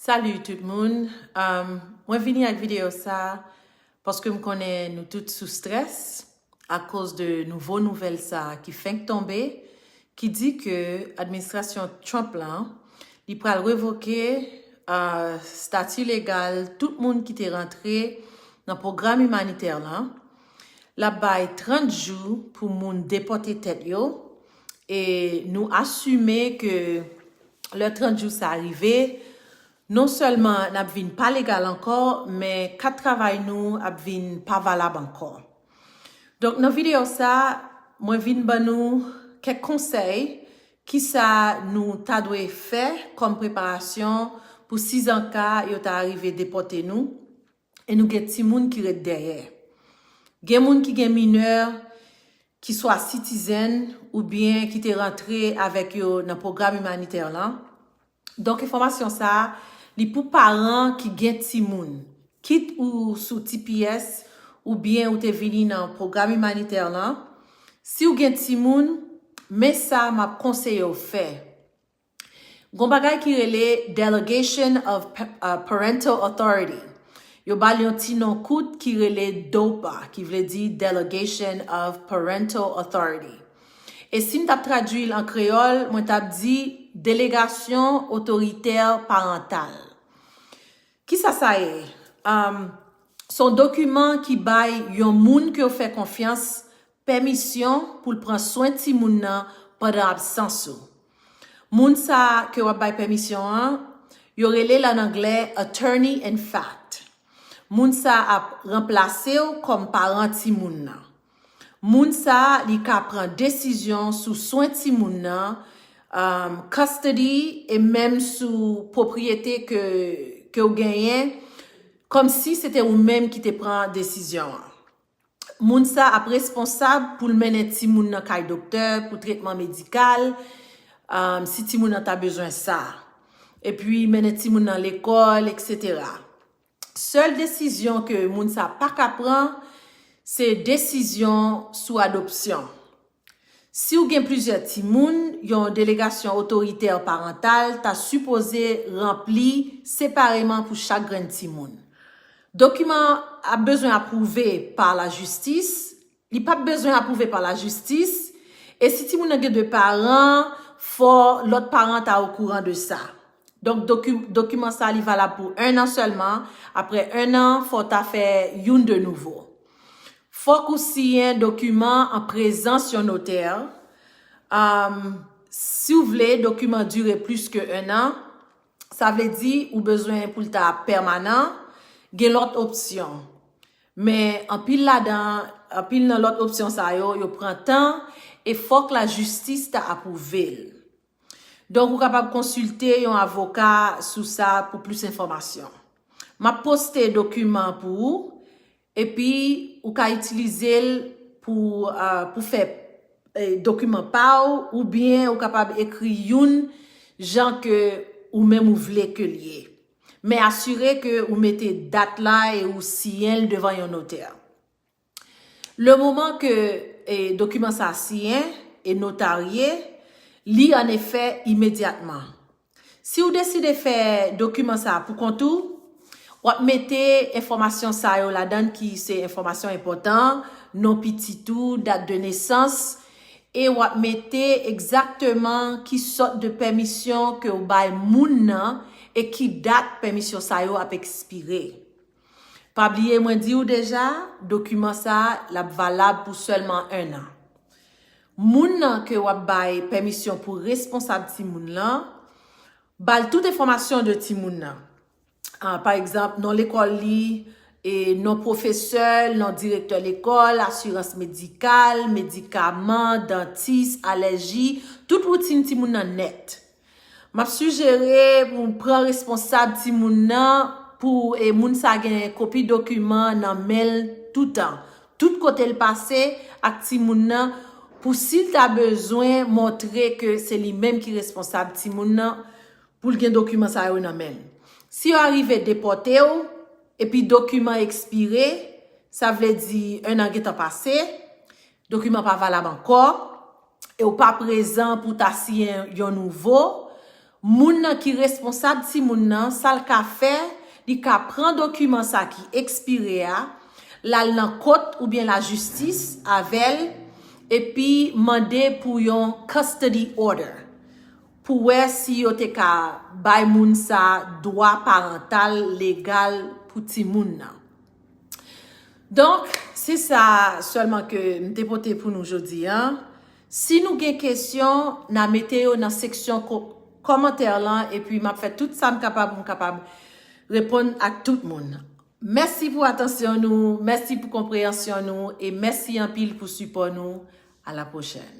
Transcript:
Salut tout moun um mwen vini ak video sa paske m konnen nou tout sou stress akoz de nouvo nouvèl sa ki fenk tonbe ki di ke administrasyon Trump lan li pral revoke um stati legal tout moun ki te rantre nan pwogram imanitè lan lap bay 30 jou pou moun depòte tèt yo E nou asime ke lè 30 jou sa a rive, non sèlman n ap vin pa legal ankò, men kat travay nou ap vin pa valab ankò. Donk nan videyo sa a, mwen vin ban nou kèk konsèy kisa nou ta dwe fè kòm preparasyon pou sizanka yo ta arive depòte nou, e nou gen timoun ki ret dèyè. Gen moun ki gen minè ki swa sitizèn oubyen ki te rantre avèk yo nan pwogram imanitè lan. Donk enfòmasyon sa a, li pou paran ki gen timoun. Kit ou sou tps oubyen ou te vini nan pwogram imanitè lan, si w gen timoun, men sa m ap konseye w fè. Gon bagay ki rele Delegation of Parental Authority. Yo ba l yon ti non kout ki rele DOPA, ki vle di Delegation of Parental Authority. E si m t ap tradui l an kreyòl, mwen t ap di Delegasyon Otoritè Parantal. Ki sa sa ye? Se yon dokiman ki bay yon moun ke w fè konfyans pèmisyon pou l pran swen timoun nan pandan absans ou. Moun sa a ke w ap bay pèmisyon an, yo rele l an anglè attorney in fact. Moun sa a ap ranplase w kòm paran timoun nan. Moun sa a li ka pran desizyon sou swen timoun nan, custody e menm sou pwopriyete ke w genyen kòmsi se te ou menm ki te pran desizyon an. moun sa ap responsab pou l mennen timoun nan kay doktè pou tretman medikal, si timoun nan ta bezwen sa. Epi mennen timoun nan lekòl, eksetera. Sèl desizyon ke moun sa pa ka pran, se desizyon sou adopsyon. Si w gen plizyè timoun, yon delegasyon otoritè parantal ta sipoze ranpli separeman pou chak grenn timoun. Dokiman an ap bezwen apwouve pa lajistis, li p ap bezwen apwouve pa lajistis, e si timoun nan gen de paran, fò lòt paran ta okouran de sa. Donk dokiman sa li valab pou enn an sèlman, apre enn an fò w ta fè youn de nouvo. Fòk ou siyen dokiman an prezans yon notè. Si w vle dokiman an dire plis ke 1 an, sa vle di ou bezwen pou l ta pèmanan, gen lòt opsyon. Men anpil ladan, anpil nan lòt opsyon sa yo, yo pran tan e fòk lajistis ta apwouve l. Donk ou kapab konsilte yon avoka sou sa pou plis enfòmasyon. M ap poste dokiman an pou ou, epi ou ka itilize l pou fè dokiman pa ou, oubyen ou kapab ekri youn jan ke ou menm ou vle ke l ye. Men asire ke ou mete dat la e ou siyen l devan yon notè. Le moman ke dokiman sa a siyen e notarye, li an efè imedyatman. Si ou deside fè dokiman sa a pou kont ou, w ap mete enfòmasyon sa yo ladan ki se enfòmasyon enpòtan, non pitit ou, dat de nesans, e w ap mete egzakteman ki sòt de pèmisyon ke ou bay moun nan e ki dat pèmisyon sa yo ap ekspire. Pa bliye mwen di ou deja, dokiman sa a, l ap valab pou sèlman ennan. Moun nan ke w ap bay pèmisyon pou responsab timoun lan, ba l tout enfòmasyon de timoun nan. Pa egzanp, non lekòl li, non pwofesè l, non direktè lekòl, asirans medikal, medikaman, dantis, alèji, tout woutin timoun nan nèt. Map sijere pou w pran responsab timoun nan pou e moun sa gen kopi dokiman nan men l toutan, tout kote l pase ak timoun nan pou si l ta bezwen montre ke se li menm ki responsab timoun nan pou l gen dokiman sa yo nan men l. Si yo arive depòte w epi dokiman ekspire, sa vle di 1 an gentan pase, Dokiman pa valab ankò e w pa prezan pou w ta siyen yon nouvo, moun nan ki responsab timoun nan, sa l ka fè, li ka pran dokiman sa ki ekspire a, l al nan kot oubyen lajistis avè l, epi mande pou yon custody order, pou wè si yo te ka bay moun sa dwa parantal legal pou timoun nan. Donk, se sa sèlman ke m te pote pou nou jodi an. Si nou gen kesyon, n a mete yo nan seksyon kòmantè lan, epi m ap fè tout sa m kapab pou m kapab reponn ak tout moun. Mèsi pou atansyon nou, mèsi pou konpreyansyon nou, e mèsi anpil pou sipò nou. A la pwochèn!